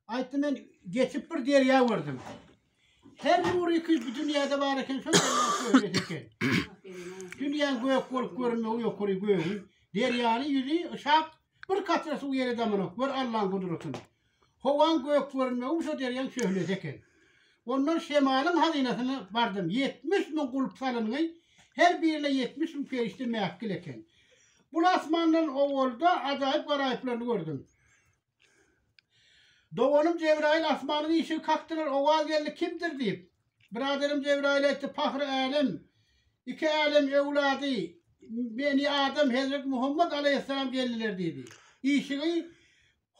Aýtdy men geçip bir derýa gördüm. Her nur iki bu dünýäde bar eken, şol dünýäde eken. Dünýä gök bolup görünmegi ýokary gögün. Derýany ýüzi şak bir katra suw ýere damanok. Gör Allaň gudratyny. Howaň gök görünmegi şu derýaň şöhlesi eken. Ondan şemalyň hazynasyna bardym. 70 müň gulp salyngy, her birine 70 müň perişde mähkil eken. Bu asmandan owalda ajaýyp garaýyplaryny gördüm. Doganym Jebraýyl asmanyň işigi kakdylar, owaz geldi, Kimdir? diýip. Biraderim Jebraýyl aýtdy, Pahry älem, iki älem öwlady, Beni Adam, Hezreti Muhammad alaýhyssalam geldiler diýdi. Işigi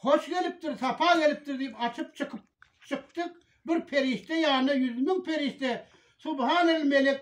Hoş gelipdir, sapa gelipdir diýip açyp çykyp çykdyk, bir perişde ýanyna ýüz müň perişde, Subhanal melek,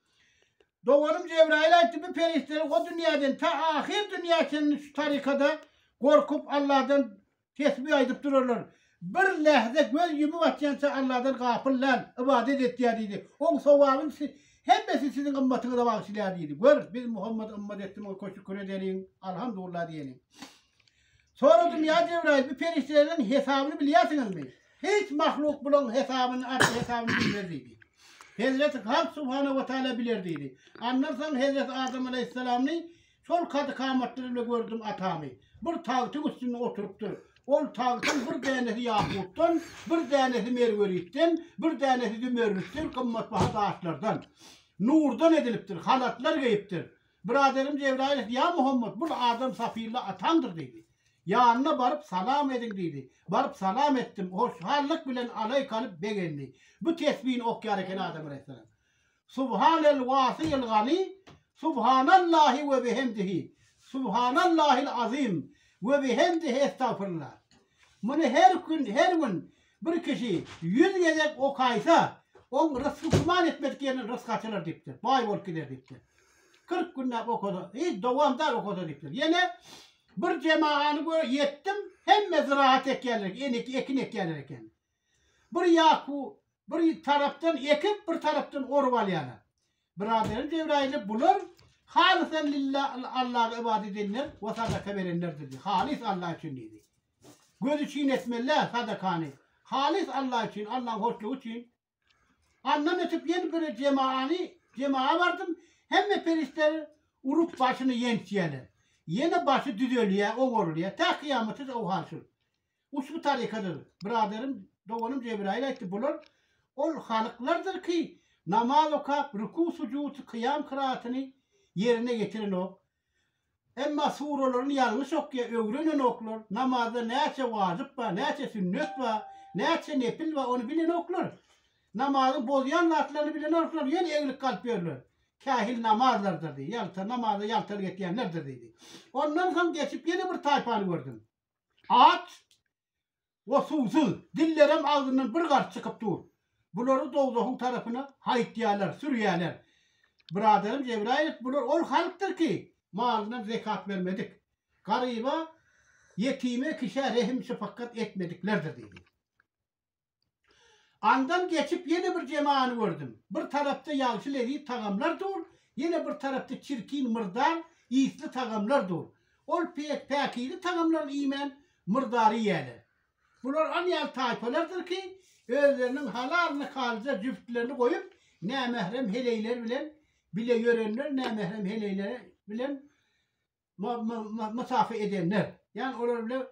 Doganym Jebraýyl aýtdy, bu perişdeler o dünýäden ta ahyr dünýä çenli şu tarykada gorkup, Allahdan tesbi aýdyp durarlar. Bir lähze göz ýumup açýança Allahdan gapyl däl, ybadat etýär diýdi. Oň sowabyny siz hemmesi siziň ymmatyňyza bagyşlaýar diýdi. Gör, biz Muhammada ymmat etdi, muňa köşi-küre edeliň, Alhamdullah diýeliň. Soradym, Ýa Jebraýyl, bu perişdeleriň hesabyny bilýärsiňizmi? Hiç mahluk bulaň hesabyny, arşy hesabyny bilmez diýdi. Hezreti Hak subhanahu we taala biler diýdi. Andan soň hezreti Adam aleýhissalamny şol kady-kamatlar ile gördüm, atamy. Bir tagtyň üstünde oturypdyr. Ol tagtyň bir dänesi ýakutdan, bir dänesi merweritden, bir dänesi zümerritden, gymmatbaha daşlardan, nurdan edilipdir, halatlar geýipdir. Byraderim Jebraýylow, ýa Muhammet, bul adam Safylla ataňdyr diýdi. Ýanyna baryp, salam ediň diýdi. Baryp salam etdim. Hoşhallyk bilen alaý kalyp begendi. Bu tesbini okýar eken Adam alaýhyssalam. Subhanel wasyýil gani, Subhanallahi we bihamdihi, Subhanallahil azim we bihamdihi estagfirullah. Muny her gün, her gün Bir kişi ýüz gezek okaýsa, oň rysgy güman etmedik ýerine rysgy açylar diýipdir, baý bolup gider diýipdir. Kyrk günläp okasa, hiç dowamdar okasa diýipdir. Ýene bir jemagany gö ýetdim, hemme zyraat ekýärler, enik ekin ekýärler eken. Bir ýaku bir tarapdan ekip, bir tarapdan orup alýarlar. Biraderim Jebraýyly bular halysan lillah Allaha ybadat edenler we sadaka berenlerdir diýdi. Halys Allah üçin diýdi. Gözi çyn etmeli-dä sadakany. Halys Alla üçin, Allaň hoşlugy üçin. Andan ötüp ýene bir jemaany, jemaa bardym. Hemme perişdeler urup başyny ýençýärler. Ýene başy düzelýär, owarylýar. Tä kyýamata o hal şul. Uçbu tarykadyr. Biraderim, doganym Jebraýyl aýtdy, bular ol halyklardyr ki, namaz okap, ruku-sujud, kyýam-kyraýatyny ýerine ýetirenok. Emma suralaryny ýalňyş okýa öwrenenoklar, namazda näçe wajyp bar, näçe sünnet bar, näçe nepil bar ony bilenoklar. Namazy bozýan zatlaryny bilenoklar, ýöne egilip galyp ýörler. Kähil namazlardyr diýdi, ýalta namaza ýaltalyk etýänlerdir diýdi. Ondan soň geçip ýene bir taýpany gördüm. At O suwsuz, dillerem agzyndan bir gars çykyp dur. Bulary dowzahyň tarapyna haýytýarlar, sürýärler. Byradarym Jebraýylow, bular ol halkdyr ki, malyndan zekat bermedik, garyba, ýetime, kişä rehim-şypakgat etmediklerdir diýdi. Andan geçip ýene bir jemany gördüm. Bir tarapda ýagşy leziz tagamlar dur, ýene bir tarapda çirkin, myrdar, ysly tagamlar dur. Ol pek päkize tagamlary iýmän, myrdary iýýärler. Bular an ýaly taýpalardyr ki, özleriniň halal nikalyja jübtlerini goýup, nämährem heleýler bilen bile ýörenler, nämährem heleýler bilen ma-ma-ma-musafa edenler. Ýagny olar bile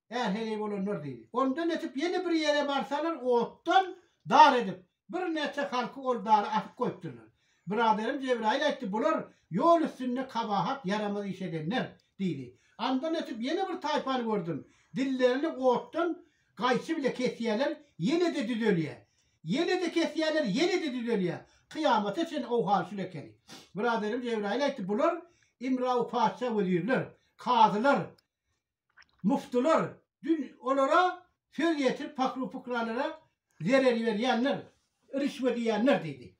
Är heleý bolanlar diýdi. Ondan ötüp ýene bir ýere barsalar, otdan dar edip, birnäçe halky ol dara asyp goýupdyrlar. Byradarym Jebraýyl aýtdy, Bular ýol üstünde kabahat, ýaramaz iş edenler diýdi. Andan ötüp ýene bir taýpany gördüm. Dillerini otdan gaýçy bile kesýärler, ýene-de düzelýär. Ýene-de kesýärler, ýene-de düzelýär. Kyýamata çenli owhaly şul ekeni. Byradarym Jebraýyl aýtdy, Bular Imrawy patyşa wezirler, kazylar, Muftylar dün olara söz ýetirip pahru-pukralara zerer berýänler, rişwet iýenler diýdi.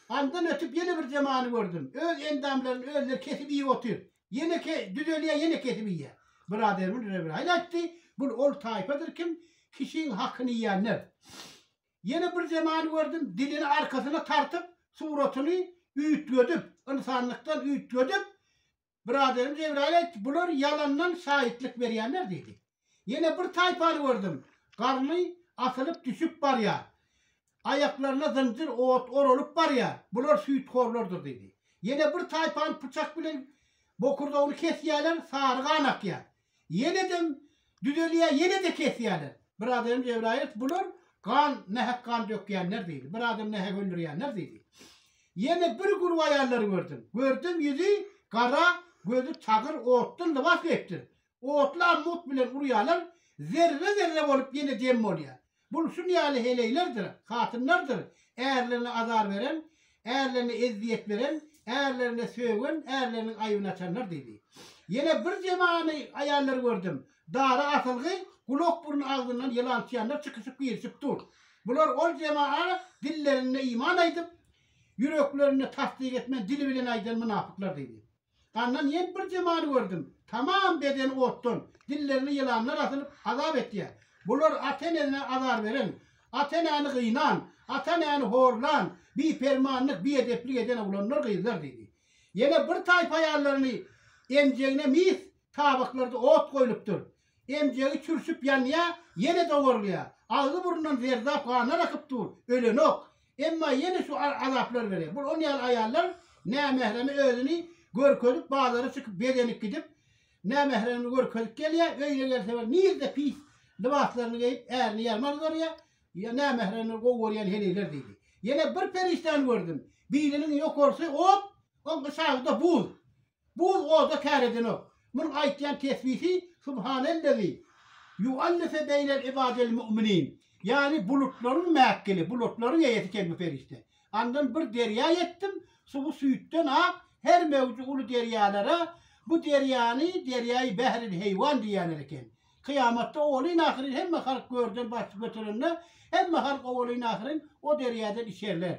Andan ötüp ýene bir zemany gördüm. Öz endamlaryny özleri kesip iýip otyr. Ýene düzelýär, ýene kesip iýýär. Biraderimiz Rebiraýyl aýtdy, bul ol taýpadyr kim kişiň hakyny iýenler. Ýene bir zemany gördüm, dilini arkasyna tartyp, suratyny üýtgedip, ynsanlykdan üýtgedip, Byraderim Jebraýyl aýtdy, Bular ýalandan şaýytlyk berýänler diýdi. Ýene bir taýpany gördüm. Garny asylyp düşüp barýar. Aýaklaryna zynjyr ot oralyp barýar. Bular süýthorlardyr diýdi. Ýene bir taýpany pyçak bilen bokurdagyny kesýärler, sary gan akýar. Ýenedem düzelýär, ýene-de kesýärler. Bir adamym Jebraýyl aýtdy, Bular gan, nähak gan dökýänler diýdi. Bir adamy nähak öldürýänler diýdi. Ýene bir gurp aýallary gördüm. Gördüm, ýüzi gara, gözi tagyr, otdan lybas geýipdir. Otly ammut bilen urýarlar, zerre-zerre bolup ýene dem bolýar. Bul şun ýaly heleýlerdir, hatynlardyr, ärlerine azar beren, ärlerine ezziýet beren, ärlerine sögen, ärleriniň aýbyny açanlar diýdi. Ýene bir zemany aýallary gördüm. Dara asylgy, gulak-burun agzyndan ýylan çyýanlar çykyşyp-girişip dur. Bular ol zemana dillerinde iman aýdyp, ýüreklerinde tassyk etmän dili bilen aýdan mynapyklar diýdi. Gandan ýen bir jemany gördüm. Tamam bedeni otdan, dillerine ýylanlar asylyp, azap etýär. Bular ata-enesine azar beren, ata-enäni gynan, ata-enäni horlan, bipermanlyk, biedeplik eden oglanlar, gyzlar diýdi. Ýene bir taýpa aýallaryny emjegine mis tabaklarda ot goýlupdyr. Emjegi çürşüp ýanýar, ýene dowarylýar. Agzy-burnundan zerdap ganlar akyp dur, ölenok. Emma ýene şu azaplar berýär. Bu on ýaly aýallar nämähreme özüni görkezip, bazara çykyp bezenip gidip, nämähremini görkezip gelýär. Öýüne gelse bir nirde pis lybaslaryny geýip, ärini ýaryma gyzarýar. Ýa nämähremini gowy görýän heleýler diýdi. Ýene bir perişdany gördüm. Biriniň ýokarsy ot, oň gyşagy-da buz. Bu gyz oda kär edenok. Munuň aýtýan tesbihi Subhanellezi ýuallife beýnel ibadil mu'minin, ýagny bulutlaryň mäkkili, bulutlaryň eýesi kelbi perişde. Andan bir derýa etdim, suwy süýtden ak, her möwji uly derýalara, bu derýany derýaýy bähril heýwan diýerler eken. Kyýamatda owalyn-ahyryn hemme halk görden baş göterende, hemme halk owalyn-ahyryn o derýadan içerler.